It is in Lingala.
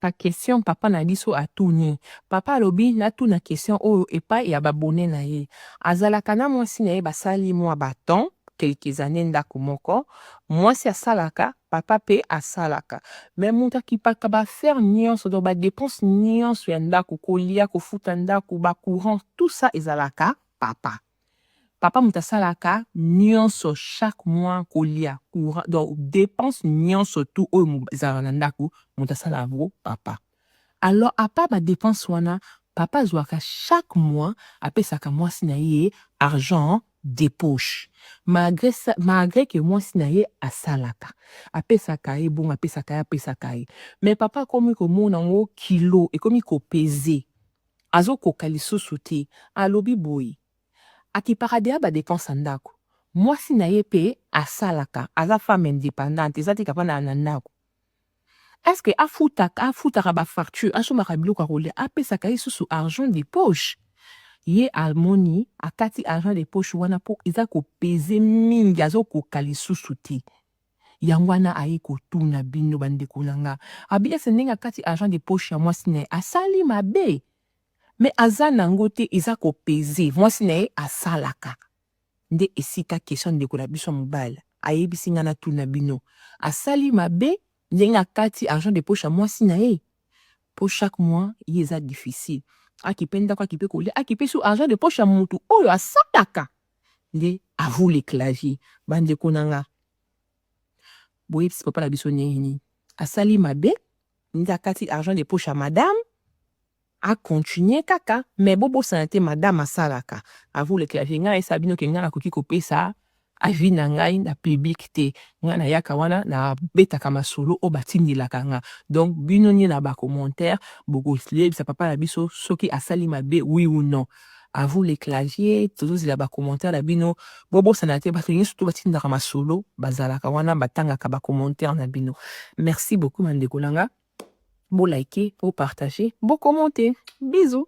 Ba question papa na biso atuni. Papa alobi natuna question oyo epai ya b'abonnes na ye. Azalaka na mwasi na ye basali mwa ba temps, quelques annees ndako moko. Mwasi asalaka, papa pe asalaka. Mais moto akipaka ba affaires nionso donc ba depenses nionso ya ndako, kolia, kofuta ndako, ba courants, tout ça ezalaka papa. Papa moto asalaka nionso chaque mois kolia courant donc depense nionso tout oyo ezalaka na ndaku moto asalaka yango papa alors à part ba depense wana papa azuaka chaque mois apesaka mwasi na ye argent de poche malgre ça malgre que mwasi na ye asalaka apesaka ye bongo apesaka ye apesaka ye mais papa akomi komona yango kilo ekomi ko peser Azokoka lisusu te. Alobi boye, Akipaka dejà ba depenses ya ndako. Mwasi na ye mpe asalaka, aza femme independante, eza te ke afandaka na ndako. Est ce que afutaka, afutaka ba factures, asombaka biloko ya kolia, apesaka ye lisusu argent de poche? Ye amoni, akati argent de poche wana mpo eza ko peser mingi, azokoka lisusu te. Yango wana aye kotuna bino ba ndeko na nga. Abi est ce ndenge akati argent de poche ya mwasi na ye asali mabe? Mais aza nango te eza ko peser mwasi na ye asalaka. Nde esika question ndeko na biso ya mobali ayebisi nga natuna bino. Asali mabe ndenge akati argent de poche ya mwasi na ye? Po chaque mois ye eza difficile. Akipe ndaku akipe kolia akipe su argent de poche ya mutu oyo asalaka. nde à vous les claviers ba ndeko na nga boyebisi papa na biso ndenge nini asali mabe nde akati argent de poche ya madame a continuer kaka mais bobosana te madame asalaka à vous les claviers ngai nayesa bino ke ngai nakoki kopesa avis na ngai na public te ngai nayaka wana nabetaka masolo oyo batindelaka nga donc bino nde na bacommentaire bokoyebisa papa na biso soki asali mabe oui ou non A vous les claviers tozozela ba commentaires na bino bobosana te bato nyoso to batindaka masolo bazalaka wana batangaka ba commentaires na bino merci beaucoup bandeko na nga bo like bo partage bo commente bisous